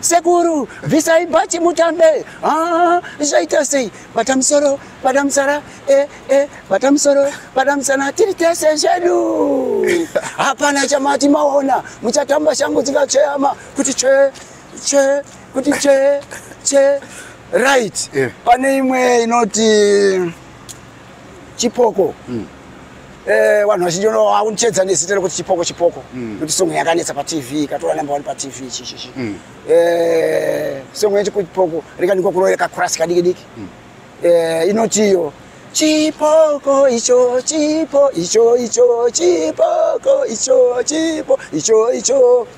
sekuru bvisai bhachi mutambe ah, zvaita sei bata musoro bata musara e eh, e eh, bata musoro bata musana tiri tese zvedu hapana chamati maona muchatamba shangu dzikatsveyama kuti tsve tsve kuti tsve tsve right yeah. pane imwe inoti chipoko mm. eh, vanhu vazhinji vaundichedza nezita rekuti chipoko chipoko mm. nokuti songo yakanetsa patv ikatora number one patv chichichi mm. eh, songo yechipoko rikanikwa kuroera kakurasi kadiki diki mm. eh, inotiyo chipoko icho chipo icho icho chipoko icho chipo icho icho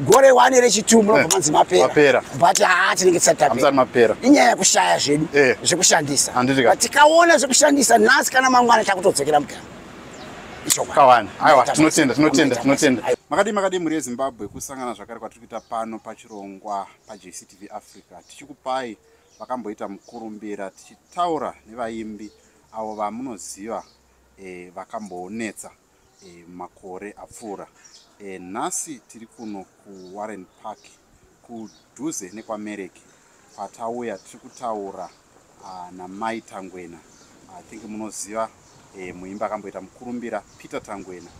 gore wani rechitu munobva eh, manzi mapera but haa tinenge tisatapera inyaya yekushaya zvedu eh. zvekushandisa but tikaona zvekushandisa nhasi kana mangwana takutodzokera mugama kawani aiwa tinotenda tinotenda tinotenda makadii makadii mhuri yezimbabwe kusangana zvakare kwatiri kuita pano pachirongwa pajctv africa tichikupai vakamboita mukurumbira tichitaura nevaimbi avo vamunoziva eh, vakambonetsa e, e, makore apfuura e, nhasi tiri kuno kuwarren park kudhuze nekwamereki patauya tiri kutaura ah, namai tangwena i think munoziva e, muimba akamboita mukurumbira peter tangwena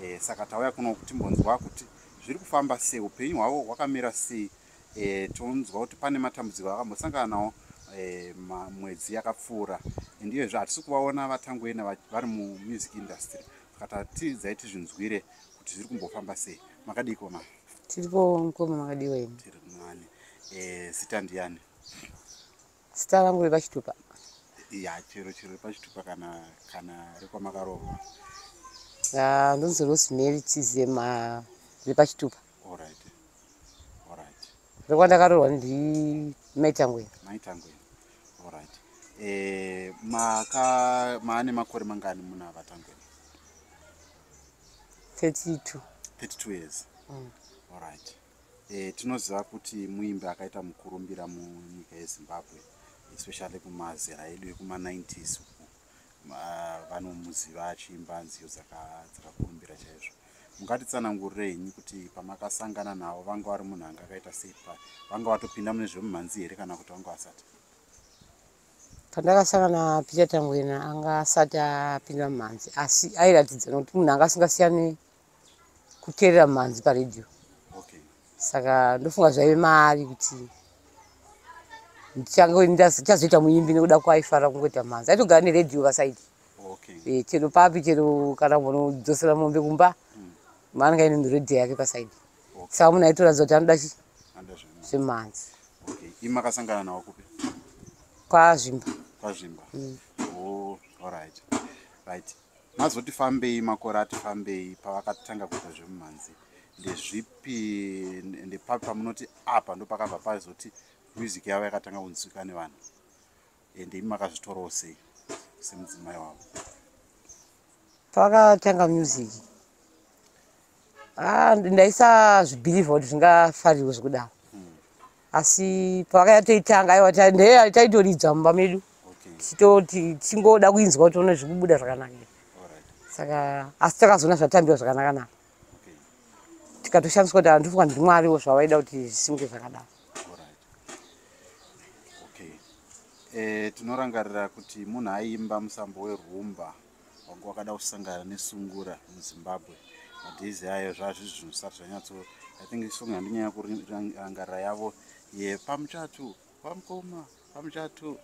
e, saka tauya kuno kutimbonzwa kuti zviri kufamba sei upenyu hwavo hwakamira sei e, tonzwa kuti pane matambudziko akambosangana nawo e, mwedzi yakapfuura and iyezve hatisi kuvaona vatangoena vari mumusic industry saka tatidzai tizvinzwire kuti zviri kumbofamba sei makadii koma tiripo mukoma makadiwa imi tiri mani e, zita ndiyani Sita vangu vepachitupa. Ya chero chero pachitupa kana kana rekwamakaroorwa. Ah, ndonzi Rosemary Chizema repachitupa. All right. All right. Rekwandakaroorwa ndi Maitangwe. Maitangwe. All right. Eh, maka maane makore mangani muna vatangwe? 32. 32 years. Mm. All right. E, tinoziva kuti muimbi akaita mukurumbira munyika yezimbabwe especially kumazera edu ekuma90s uku vanomuziva achiimba nziyo dzakakurumbira chaizvo mungatitsanangurireinyi kuti pamakasangana navo vanga vari munhu anga akaita sei pa vanga vatopinda mune zvemumhanzi here kana kuti vanga vasati pandakasangana peter tangwena anga asati apinda mumhanzi asi airatidza nokuti munhu anga asingasiyani kuterera mhanzi paredio okay. saka ndofunga zvaive maari kuti ndichazoita muimbi nekuda kwaaifara kungoita mhanzi aitogara neredio vasaidi okay. e, eh, chero papi chero kana munodzosera mombe kumba mm. maanenge aine miredio yake pasaidi okay. saka munhu aitoratidza kuti anoda chi zvemhanzi okay. imakasangana nawo kupi kwazvimba kwazvimba mm. oh, all right. Right. mazoti fambei makore ati fambei pavakatanga kuita zvemumhanzi ndezvipi ndepapi pamunoti apa ndopakabva paizoti music yavo yakatanga kunzwika nevanhu and imi makazvitorawo sei semudzimai wavo pakatanga music Ah, ndaisazvibhirivha kuti zvingafarirwe zvekudaro asi pavakaya toitanga aiwa ndee taitoridza mumba medu tichitoti tichingoda kuinzwa kuti one zvikubuda zvakanaka saka asi takazoona zvatambiwa zvakanaka naka tikatoshandiswa kuti andifunga ndimwariwo zvavaida kuti zvisimge zvakadaro eh, tinorangarira kuti munhu aiimba musambo werumba wangu wakada kusangana nesungura muzimbabwe madhezi ayo zvazvizvi zvinhu zvisati zvanyatso i think isong handinyanya kurangarira yavo ye pamuchatu pamukoma pamuchatu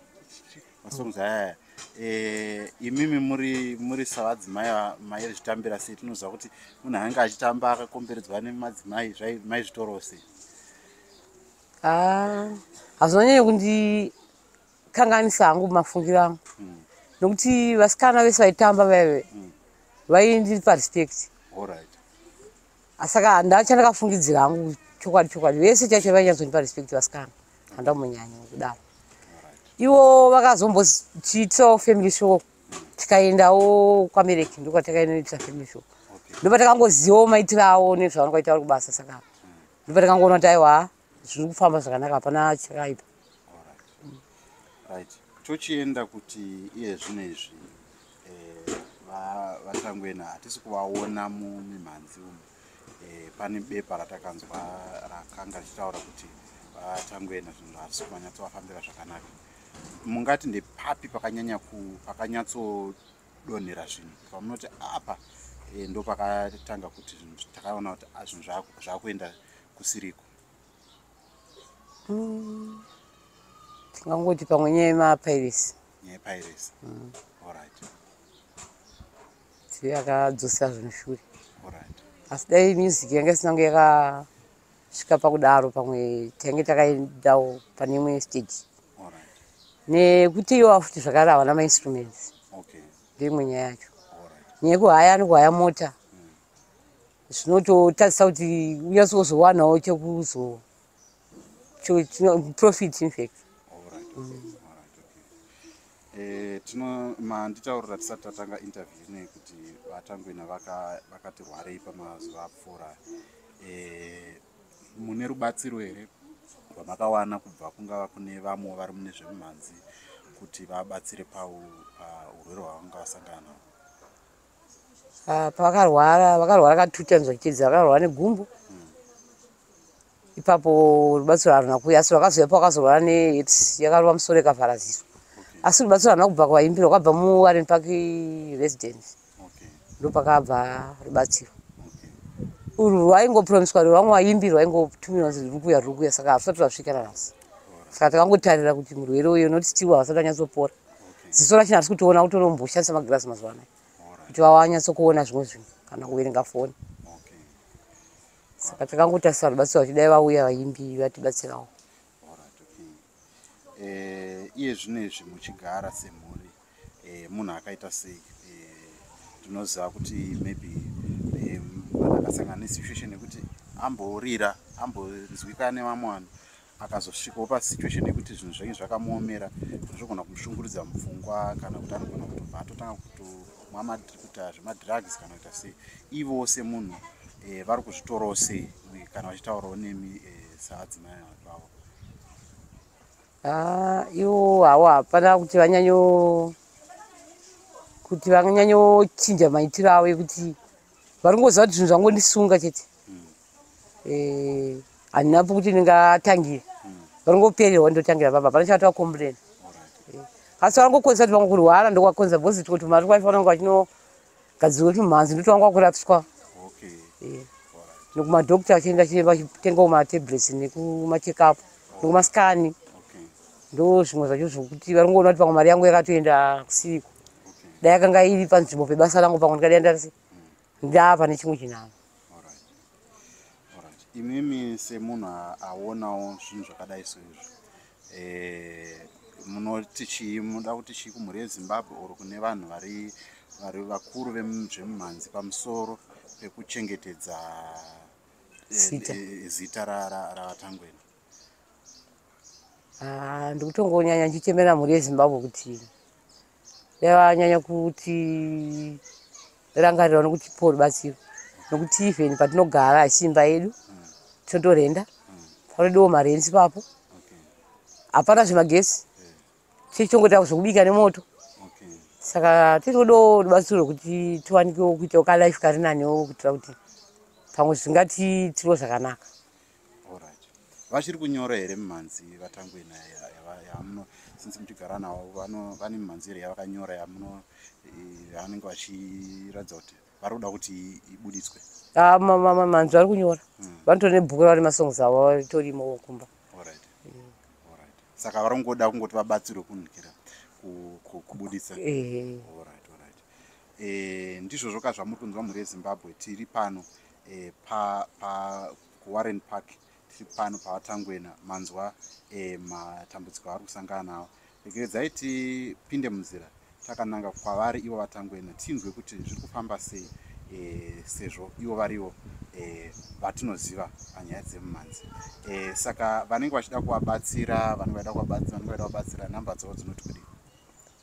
masongs ayaya eh, imimi muri muri savadzimai mairi zvitambira sei tinoziva kuti munhu anenge achitamba akakomberedzwa nemadzimai mai zvitorose ah, hazvinanyanya kundi kanganisa hangu mafungiro angu mm. nokuti vasikana vese vaitamba vaive mm. vaindipa respect right. asaka ndachandakafungidzira hangu chokwadi chokwadi vese chacho vainyazondipa respect vasikana handamunyanya kudaro ivo vakazombotiitawo family show tikaendawo kwamereki ndokwatakainoita family show ndopa takangozivawo maitiro avo nezvavanokwaita vari kubasa saka ndopa takangoona kuti aiwa zviri kufamba zvakanaka hapana chakaipa tochienda kuti iye zvino izvi eh, vatangoena hatisi kuvaona mumimhanzi umu eh, pane bepa ratakanzwa rakanga richitaura kuti vatangoena zvinhu hatisi kumanyatsovafambira zvakanaka mungati ndepapi pakanyanya pakanyatso donhera zvinhu pamunoti apa e, ndo pakatanga kuti zvinhu takaona kuti ah, zvinhu zvakuenda kusiriko mm. tingangoti pamwe nyaya yemapiracy nyaya yepiracy mm. allright ti akadzosera zvinhu shure allright asi dai music yanga isinange yaka kusvika pakudaro pamwe tange takaendawo pane imwe stage nekuti iwo afuti zvakare havana mainstruments ndoimwe nyaya yacho nyaya yekuhaya anokuhaya mota zvinototadzisa kuti unyatsi wozowanawo chekuzo profit infact mm. Eh, tino manditaurira tisati tatanga interview nei kuti vatangwena vakati vaka rwarei pamazuva apfuura eh, mune rubatsiro here rwamakawana kubva kungava kune vamwe vari mune zvemumhanzi kuti vabatsire paurwere hwavanga vasangana navo Ah, pavakarwara vakarwara katuti anzwa chitedza vakarwara negumbo ipapo rubatsiro haruna kuya asi rwakazouya pavakazorwara neaids yakarova musoro ikavharaziswa asi rubatsiro haruna kubva kwaimbira kwabva muwarren park residence ndopakabva rubatsiro urwu rwaingopromiswa rwo vamwe vaimbirwa aingotumirwa kuti ruri kuya ruri kuya saka harusati rwasvika nanhasi saka takangotarira kuti murwere uyo noti still havasati vanyatsopora ziso rachina harisi kutiona kutonomboshandisa magirasi mazuva anaya kuti vawanyatsokuona zvimwe zvinhu kana kuverenga foni saka takangotarisa vanobatsira kuti dai vauya vaimbi vatibatsirawo eh, iye zvino izvi muchigara semhuri eh, munhu akaita sei eh, tinoziva kuti maybe akasangana nesituation yekuti amborira ambonzwika nevamwe vanhu akazosvikawo pasituation yekuti zvinhu zvainge zvakamuomera zvogona kumushunguridza mupfungwa kana kuti anogona kutobva atotanga kutomwa kuita zvemadrugs kana kuita sei ivowo semunhu eh, vari kuzvitorawo sei kana vachitaurawo nemi eh, saadzimai vavo ah, ivo havo hapana kuti vanyanyo kuti vanyanyochinja maitiro avo ekuti vari kungoziva kuti zvinhu zvangondisunga chete eh, handina e, kuti ndingatangire varingoperera wandotangira baba pana chavati wakomburena eh, asi varangokonzesa kuti vanga kurwara ndokwakonza bhozi tiko tumari kwaifa vananga vachinogadzirwa tumhanzi ndoti vanga wakurapiswa eh, nekumadokta vachienda chiremba vachitenga kumatablets nekumachekapu nekumaskani okay ndo zvimwe zvacho zvokuti vari kungoona kuti pamwe mari yangu yakatoenda kusiko dai yakanga iri panzvimbo pebasa rangu pamwe ndikadai ndari sei ndava pane chimwe chinhano imimi semunhu aonawo zvinhu zvakadai soizvo eh, munoti chii munoda kuti chii kumhuri yezimbabwe or kune vanhu vari vari vakuru vezvemumhanzi pamusoro pekuchengetedza eh, eh, zita ravatangwena Ah, ndikutongonyanya ndichitemera mhuri yezimbabwe kuti yavanyanya kuti rangarirawo nokuti paul batsiro nokuti even patinogara achiimba yedu tinotorenda panodewo marenzi papo hapana zvemagesi tichongoita zvekubika nemoto saka tinodewo rubatsiro rwekuti tiwanikewo kuitawo kalife kari nanewo kuitira kuti pamwe zvingati tiriwo zvakanaka Alright. Vachiri kunyora here mimhanzi vatangwena yamuno since muchigara navo vane mimhanzi here yavakanyora yamuno yavanenge vachiratidza kuti vari kuda kuti ibuditswe? Ah, mimhanzi vari kunyora. Hmm. Vanotori nebhuku ravari masongs avo vatorimo kumba. Alright. Hmm. Alright. Saka vari kungoda kungoti vabatsirwe kunhukira kubuditsa. Ehe. Alright, alright. Eh, ndizvozvo ka zvamuri kunzwa mhuri yeZimbabwe tiri pano. e, pa, pa warren park tiri pano pavatangwena manzwa e, matambudziko avari kusangana nawo regeredzai tipinde munzira takananga kwavari ivo vatangwena tinzwe kuti zviri kufamba sei e, sezvo ivo varivo e, vatinoziva panyaya dzemumhanzi e, saka vanenge vachida kuvabatsira vanenge vaida kuvabatsira number dzavo dzinoti kudii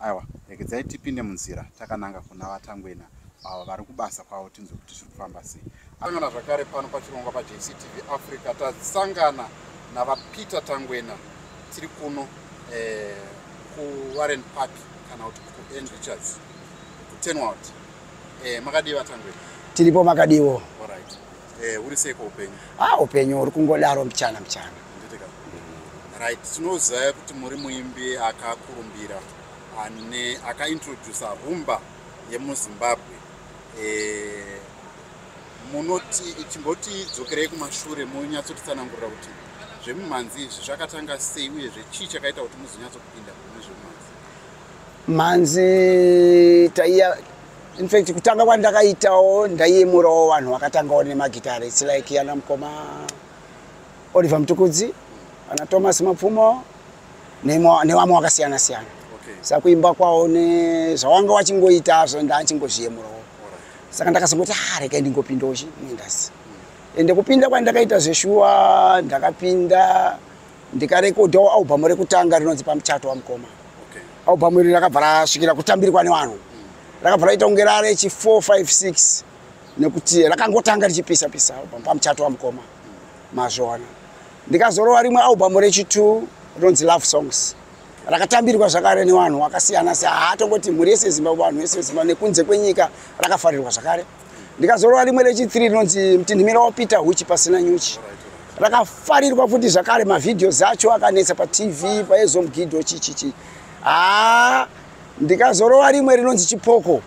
aiwa regedzai tipinde munzira takananga kuna vatangwena avo vari kubasa kwavo tinzwe kuti zviri kufamba sei asangana zvakare pano pachirongwa pajctv africa tasangana navapeter tangwena tiri kuno eh, kuwarren park kana kuti kuend richards kutenwald eh, makadii vatangwena tiripo makadiwo right. Eh, uri sei kwaupenyu? Ah, upenyu uri kungodaro mchana mchana. Right, tinoziva kuti muri muimbi akakurumbira ane akaintroducer rumba yemuzimbabwe eh, munoti chimboti dzokerei kumashure monyatsotitsanangurira kuti zvemumhanzi izvi zvakatanga sei uye zvechii chakaita kuti muzonyatsokupinda mune zvemumhanzi mhanzi taiya in fact kutanga kwandakaitawo ndaiyemurawo vanhu vakatangawo nemagitare its like yana mukoma oliver mutukudzi ana thomas mapfumo nevamwe vakasiyana siyana saka kuimba kwawo nezvawanga wachingoita zvo ndaachingozviyemurawo saka ndakazongoti ha ah, rekai ndingopindawo chi muindasi ende kupinda kwandakaita zveshuwa ndakapinda ndikarekodhawo albhamu rekutanga rinonzi pamuchato wamukoma okay. albhamu iri rakabva rasvikira kutambirwa nevanhu mm. rakabva raita kunge rare chi 456 nekuti rakangotanga richipisa pisa albhamu pamuchato wamukoma mm. mazviona ndikazorova rimwe albhamu rechitu rinonzi love songs rakatambirwa zvakare nevanhu vakasiyana siyana haatongoti mhuri yese yezimbabwe vanhu vese vezimbabwe nekunze kwenyika rakafarirwa zvakare ndikazorora rimwe rechithree rinonzi mtinhimira wapita huchi pasina nyuchi rakafarirwa futi zvakare mavhidhios acho akanetsa patv paezomgido chichichi haa ndikazorova rimwe rinonzi chipoko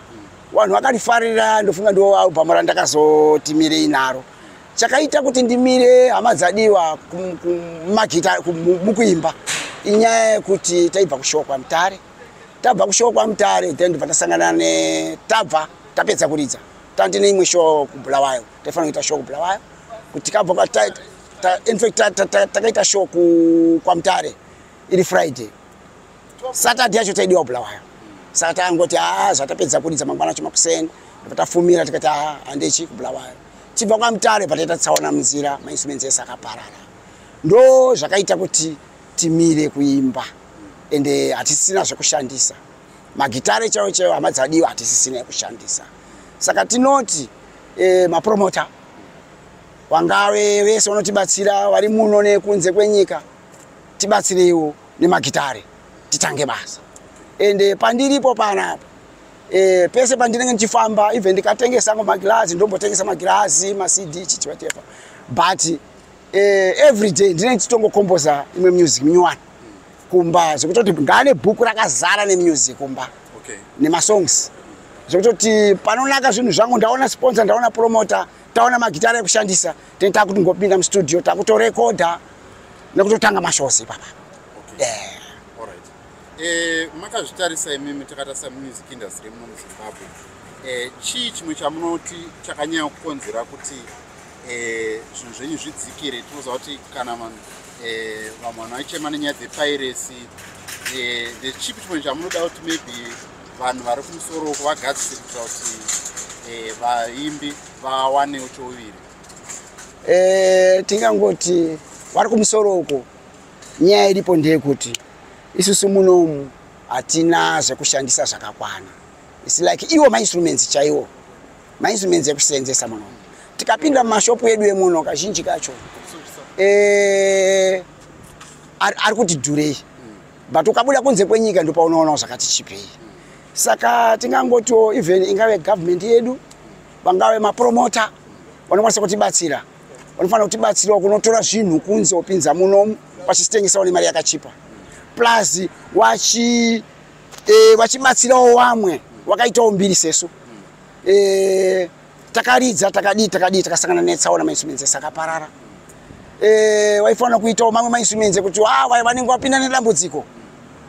vanhu vakarifarira ndofunga ndiwo albhamu randakazotimirei naro chakaita kuti ndimire hama dzadiwa kumagita mukuimba inyaya yekuti taibva kushoko kwamutare tabva kushoko kwamutare then ndibva tasangana netabva tapedza kuridza tandi neimwe show kubulawayo taifana kuita show kubulawayo kuti tikabva kwataita infact takaita show kwamutare iri friday saturday yacho taidiwa kubulawayo saka tangoti haa ah, zvatapedza kuridza mangwana acho makuseni patafumira tikati haa ah, handechi kubulawayo tibva kwamutare pataita tsaona munzira mainstruments ese akaparara ndo zvakaita kuti timire kuimba ende hatisina zvekushandisa magitare chaiwo chaiwo hama dzadiwa hatisisina yekushandisa saka tinoti e, mapromota wangave vese vanotibatsira vari muno nekunze kwenyika tibatsireiwo nemagitare titange basa ende pandiripo panapa e, pese pandinenge ndichifamba even ndikatengesa ngo magirazi ndombotengesa magirazi macd chichivatepa but e, every day ndinenge ndichitongokomboza imwe music minyowani kumba zvekutoti ngaane bhuku rakazara nemusic kumba okay. nemasongs zvekutoti panonaka zvinhu zvangu ndaona sponsor ndaona promota taona magitara ekushandisa tene takuti ngopinda mustudio takutorekodha nekutotanga mashows ipapa okay. yeah. Eh, makazvitarisa imimi takatarisa mumusik industry muno muzimbabwe eh, chii chimwe chamunoti chakanyanya kukonzera kuti eh, zvinhu zvenyu zvidzikire tinoziva kuti kana vanhu eh, vamwe vanhu vaichema nenyaya dzepairesi eh, the chipi chimwe chamunoda kuti maybe vanhu vari kumusoro uko vagadzisire kuitira kuti vaimbi vawanewo chouviri tingangoti vari kumusoro uko nyaya iripo ndeyekuti isusu munomu hatina zvekushandisa zvakakwana its like iwo mainstruments chaiwo mainstruments ekuseenzesa muno tikapinda mumashopu edu emuno kazhinji kacho eh, ari kuti dhurei but ukabuda kunze kwenyika ndopaunoonao zvakati chipei saka tingangotiwo even ingave government yedu vangave mapromota vanokwanisa kutibatsira vanofanira kutibatsirawo kunotora zvinhu kunze wopinza munomu vachitengesawo nemari yakachipa plus wachi e, vachibatsirawo wamwe wakaitawo mbiri sesu e, takaridza takadii takadii takasangana netsaona mainsumenze sakaparara e, waifanira kuitawo mamwe mainsumenze kuti ah, vaya vanenge vapinda nedambudziko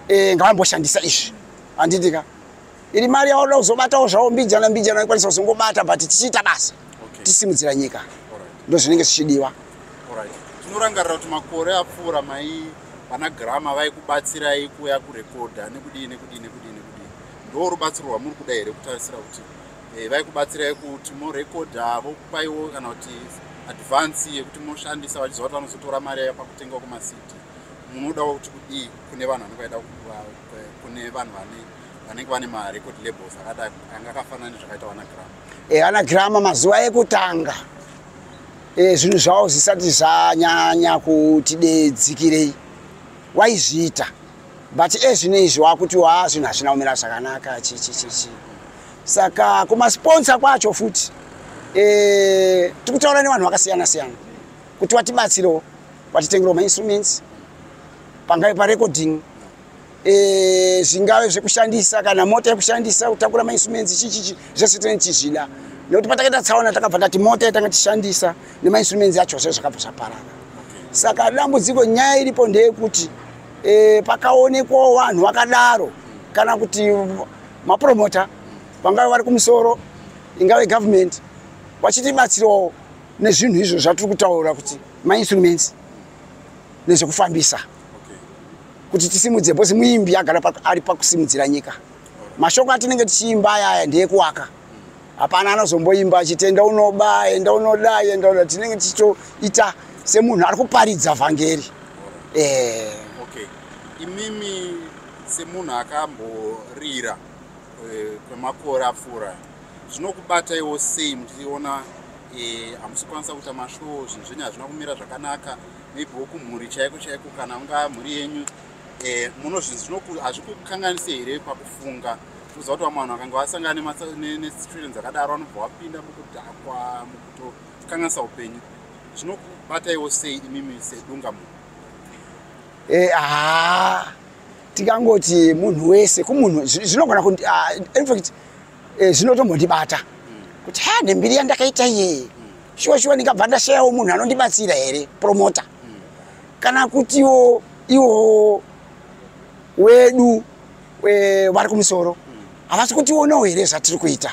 e, ngavamboshandisa izvi handitika iri mari yauda kuzobatawo zvavo mbijana mbijana ikwanisa kuzongobata but tichiita basa okay. tisimudzira nyika ndo zvinenge zvichidiwa right. tinorangarira kuti makore apfuura mai vana grama vaikubatsirai kuuya kurekodha nekudii nekudii nekudii nekudii ndo rubatsiro rwamuri kuda here kutarisira kuti eh, vaikubatsirai kuti morekodha vokupaiwo kana kuti advance yekuti moshandisa vachiziva kuti vanozotora mari yayo pakutenga kumasiti munodawo kuti kudii kune vanhu vanenge vaida eh, kune vanhu vane vanenge vane marecord labels akadai anga akafanana nezvakaita vana grama e eh, vana grama mazuva ekutanga e, zvinhu zvavo zvisati zvanyanya kuti dedzikirei waizviita but ezvino izvi wakuti wa zvinhu hazvina kumira zvakanaka chichichichi saka kumasponsa kwacho futi e, tikutaura nevanhu vakasiyana siyana kuti watibatsirewo watitengerewo mainstruments pangave parecording eh, zvingave zvekushandisa kana mota yekushandisa kutakura mainstruments chichichi zvese tine tichizvida nekuti patakaita tsaona takabva tati mota yatanga tishandisa nemainstruments yacho zve zvakabva zvaparara saka dambudziko nyaya iripo ndeyekuti e, pakaonekwawo vanhu vakadaro kana kuti mapromota vangave vari kumusoro ingave government vachitibatsirawo nezvinhu izvo zvatiri kutaura kuti mainstruments nezvekufambisa okay. kuti tisimudze because muimbi agara ari pakusimudzira nyika mashoko atinenge tichiimba aya aya ndeekuwaka hapana anozomboimba achiti enda unoba enda unoda enda unoda tinenge tichitoita semunhu ari kuparidza vhangeri eh. okay. imimi semunhu akamborira eh, kwemakore apfuura zvinokubataiwo sei muchiona eh, hamusikwanisa kuita mashow zvinhu zvenyu hazvina kumira zvakanaka maybe wokumhuri chaiko chaiko kana unga mhuri yenyu eh, munozvinzi hazvikukanganise here pakufunga uza kuti vamwe vanhu vakanga vasangana nesituation dzakadaro vanobva vapinda mukudhakwa mukutokanganisa upenyu zvinokubataiwo sei imimi sedunga munhu eh, haa tikangoti munhu wese kumunhu zvinogona ah, infact eh, zvinotombondibata kuti ha nembiri yandakaita iye shuwa shuwa ndingabva ndashayawo munhu anondibatsira here promota kana kutiwo iwo wedu eh, vari kumusoro havasi kutionawo here zvatiri kuita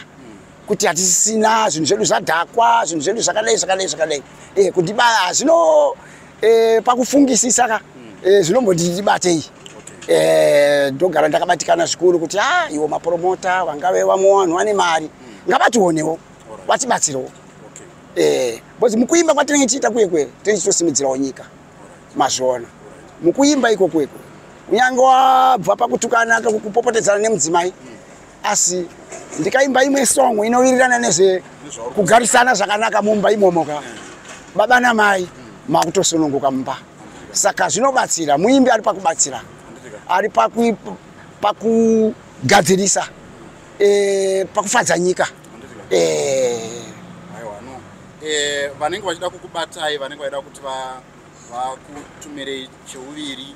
kuti hatisisina zvinhu zvedu zvadhakwa zvinhu zvedu zvakadai zvakadai zvakadai eh, kuti hazvino e, pakufungisisa ka e, zvinomboti ndibatei e, ndogara ndakabatikana zvikuru kuti a ah, iwo mapromota vangave vamwe vanhu vane mari ngavationewo vatibatsirewo e, bcause mukuimba kwatinenge tichiita kuye kuye tinenge tichitosimudzirawo nyika mazviona mukuimba iko kuye kuye kunyange wabva pakutukana kupopotedzana nemudzimai mm. asi ndikaimba imwe song inowirirana nezve kugarisana zvakanaka mumba imomo ka baba namai makutosununguka mumba saka zvinobatsira muimbi ari pakubatsira ari pakugadzirisa e, pakufadza nyika e. e, vanenge vachida kukubatai vanenge vachida kuti vakutumirei cheuviri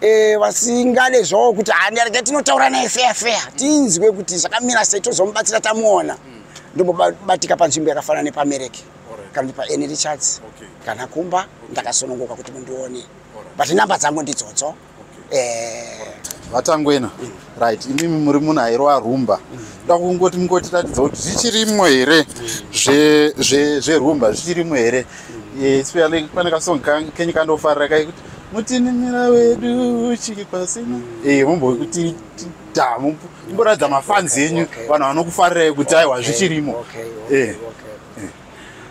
Eh, vasingade zvavo kuti handi arege tinotaura naye feya feya tinzwe kuti zvakamira sei tozomubatsira tamuona hmm. ndombobatika panzvimbo yakafanana nepamereki kana kuti paene richards kana kumba ndakasonongoka kuti mundione but number dzangu ndidzodzo eh. vatangwena right imimi muri munhu airova rumba da kungoti mungotiratidza kuti zvichirimo here zverumba zvichirimo here especially pane kasong kenyu kandofarira kaikuti mutinimira wedu chiri pasina e mumbokuti da mumboratidza mafanzi enyu vanhu vanokufarirai kuti aiwa zvichirimo e.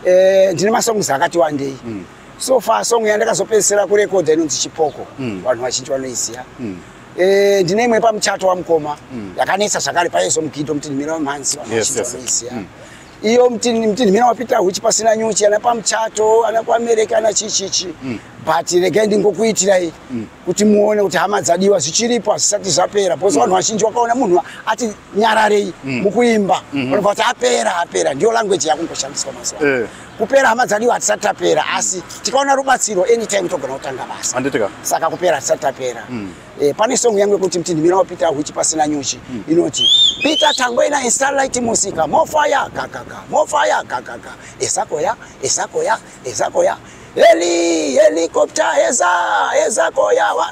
e, ndine masongs akati wandei mm. so far song yandakazopedzisira kurekodha inonzi chipoko mm. vanhu vazhinji vanoiziva mm. Eh, ndine imwe pamuchato wamukoma mm. yakanetsa zvakare paizo mugidho mutinhimira wemhanzi vanozvitorisia mm. iyo mutinhimira wapita huchi pasina nyuchi ana pamuchato ana kuamereka ana chichichi mm. but regai ndingokuitirai kuti muone kuti hama dzadiwa zvichiripo hazvisati zvapera bcause vanhu vazhinji wakaona munhu ati nyararei mukuimba vanobva kuti apera apera ndiyo language yakungoshandiswa mazuva eh. kupera hama dzadiwa hatisati tapera mm. asi tikaona rubatsiro anytime togona kutanga basa anditika saka kupera hatisati tapera mm. e, pane song yangu yekuti mti ndimira wapita huchi pasina nyuchi mm. inoti pita tangoina instarlight musika mofaya kakaka mofaya kakaka esakoya esakoya esakoya heli helikopta eza esakoya wa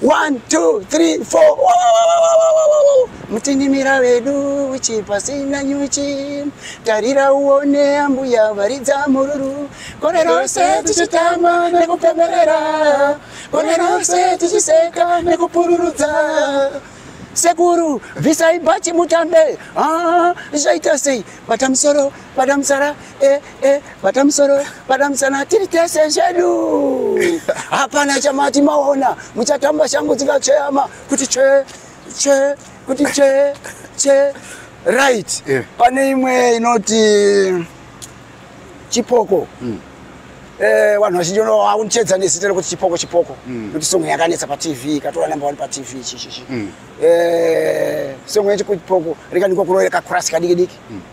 1 2 3 4 mutinimira vedu uchi pasina nyuchi tarira uone ambuya varidza mururu kore rose tichitamba nekupemberera kore rose tichiseka nekupururudza sekuru bvisai bhachi mutambe Ah, zvaita sei bata musoro bata musara eh, eh, bata musoro bata musana tiri tese zvedu hapana chamati maona muchatamba shangu dzikatsveyama kuti tsve tsve kuti tsve tsve right yeah. pane imwe inoti chipoko mm. Eh, vanhu vazhinji vaunchedza nezita rekuti chipoko chipoko mm. kuti songo yakanetsa patv ikatora number one patv chichichi mm. eh, songo yechipoko rikanikwa kuroyera kakurasi kadiki diki mm.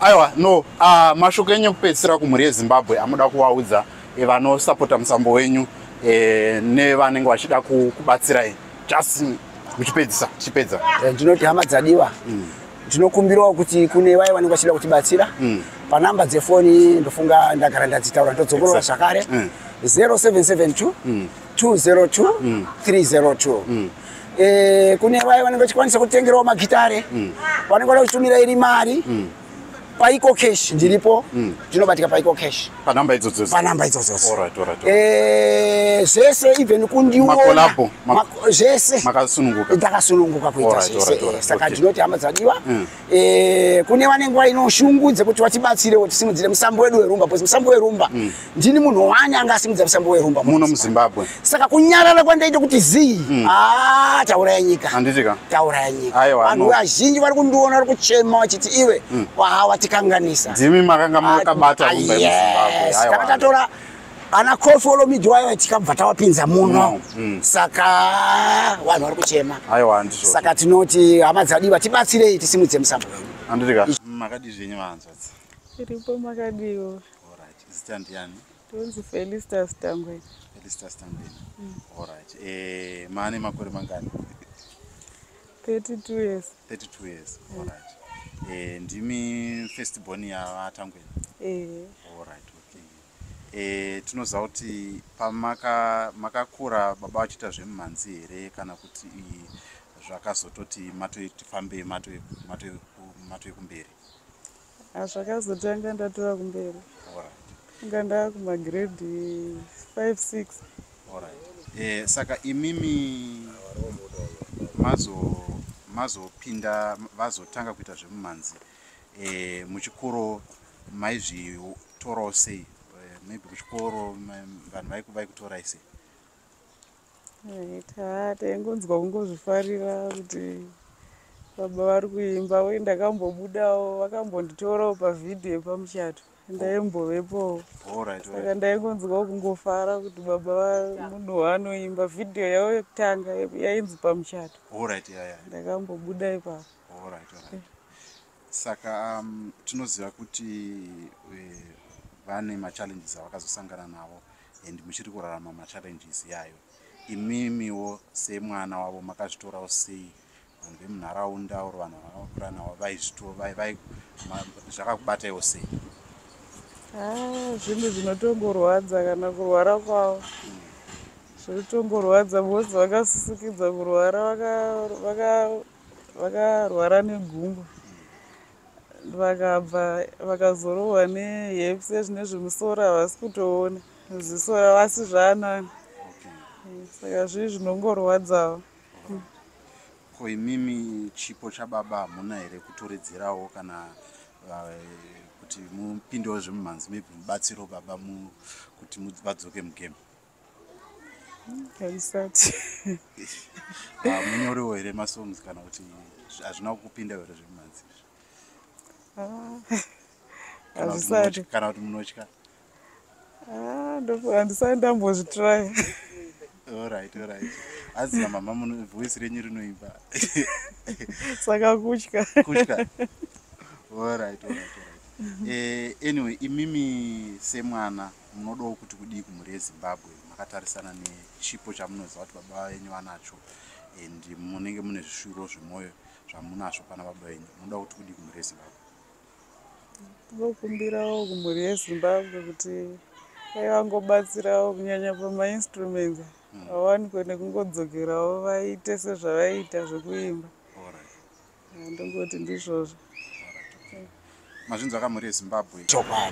aiwa no uh, mashoko enyu ekupedzisira kumhuri yezimbabwe amuda kuvaudza e, vanosapota musambo wenyu e, nevanenge vachida kubatsirai just uchipedzisa chipedza eh, ndinoti hama dzadiwa mm. ndinokumbirawo kuti kune vaye vanenge vachida kutibatsira mm. panhamba dzefoni ndofunga ndagara ndadzitaura ndodzongorora zvakare 0772 mm. 202 mm. 302 mm. E, kune vaye vanenge vachikwanisa kutengerawo magitare mm. vanenge vada kutumira iri mari mm. paiko cash ndiripo mm. ndinobatika paiko cash panamba idzodzodzo panamba idzodzodzo right, right, right. E, zvese even kundiona zvese makasununguka ndakasununguka kuita zvese saka ndinoti hama dzadiwa mm. Eh, kune vane nguva ino shungu dzekuti vatibatsirewo tisimudzire musambo wedu werumba bcause musambo werumba mm. ndini munhu wani anga asimudza musambo werumba muno muzimbabwe saka kunyarara kwandaita kuti zii mm. ah, tauraya nyika handitika tauraya nyika vanhu vazhinji vari kundiona vari kuchema vachiti iwe mm. waha watikanganisa ndimi makanga makabata ah, rumba yemuzimbabwe tanga tatora ana kofi olomidhi waiva tikabva tawapinza muno mm, mm. saka vanhu vari kuchema saka tinoti hama dzadii vatibatsirei tisimudze musambo wenyu tiripo makadiwo tonzi felistas tangweni mm. eh, maane makore mangani 32 years 32 years mm. alright eh, ndimi first born yavatangweni eh. e, tinoziva kuti pamakakura maka baba vachiita zvemumhanzi here kana kuti zvakazototi matoitifambei matoe kumberi hazvakazotanga ndatova kumberi inga ndava kumagrade 5 6 e, saka imimi mazopinda vazotanga kuita zvemumhanzi e, muchikoro maizvitorawo sei eh, maybe kuchikoro vanhu vaiku vaikutorai sei ta taingonzwa kungozvifarira kuti baba vari kuimba uye ndakambobudawo vakambonditorawo pavhidhiyo pamuchato ndaimbovepowo saka ndaingonzwawo kungofara kuti baba vamunhu waanoimba vhidhiyo yavo yekutanga yainzi pamuchato ndakambobuda ipapo Alright, alright. Eh. Saka um, tinoziva kuti eh, vane machallenges avakazosangana navo and muchiri kurarama machallenges yayo imimiwo semwana wavo makazvitorawo sei vanhu vemunharaunda or vanhu vakakura navo vaizvitovai zvakakubataiwo sei ah, zvinhu zvinotongorwadza kana kurwara kwavo hmm. zvinotongorwadza bose vakasisikidza kurwara vaka, vaka vakarwara negumbo vakabva vakazorohwa nehepsi ezvine zvemusoro havasi kutoona ziso ravasi zvaanani saka zvii zvinongorwadzawo ko imimi chipo chababa hamuna here kutoredzerawo kana eh, kuti mupindewo zvemumhanzi maybe mubatsiro baba kuti vadzoke mugame haisati ah, munyoriwo here masongs kana kuti hazvina kupinda here zvemumanzi ah, hazvisati kana kuti munotya ah, handisati ndambozvitraya orit orit azina mama muno voice renyu rinoimba saka kutya kutya orit orit orit eh, anyway imimi semwana mm -hmm. munodawo kuti kudii kumhuri yezimbabwe makatarisana nechipo chamunoziva kuti baba venyu vanacho and munenge mune zvishuviro zvemwoyo zvamunazvo pana baba venyu munoda kuti kudii kumhuri yezimbabwe ndokumbirawo kumhuri yezimbabwe kuti dai vangobatsirawo kunyanya pamainstruments hmm. awanikwe nekungodzokerawo vaite sezvavaiita zvekuimba Ah, ndongoti ndizvozvo mazvinzwa kamhuri yezimbabwe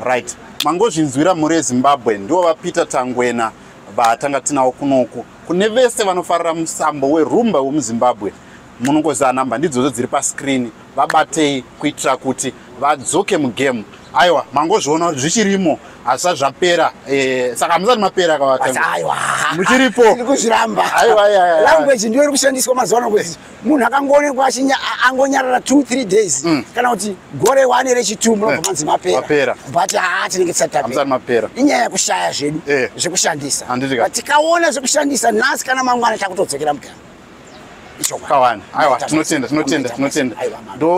right mangozvinzwira mhuri yezimbabwe ndivo vapeter tangwena vatanga tinawo kunoku kune vese vanofarira musambo werumba wemuzimbabwe munongoziva namba ndidzodzo dziri pascreen vabatei kuitira kuti vadzoke mugame aiwa mangozviona kuti zvichirimo hazvisati zvapera eh, saka hamusati mapera kavata muchiripo aiwa language ndiyo iri kushandiswa mazuva ano kwezi munhu akangoonekwa achinya angonyarara two three days mm. kana kuti gore wane rechitu munobva eh. manzi mapera but haa tinenge tisatapera inyaya yekushaya zvedu eh. zvekushandisa but tikaona zvekushandisa nhasi kana mangwana takutodzokera mugama kawani aiwa tinotenda tinotenda tinotenda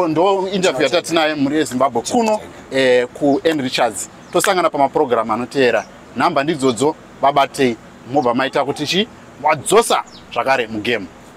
ndo interview yatatinaye mhuri yezimbabwe kuno eh, kuend richards tosangana pamapurogiramu anoteera nhamba ndidzodzo vabatei mobva maita kuti chi wadzosa zvakare mugame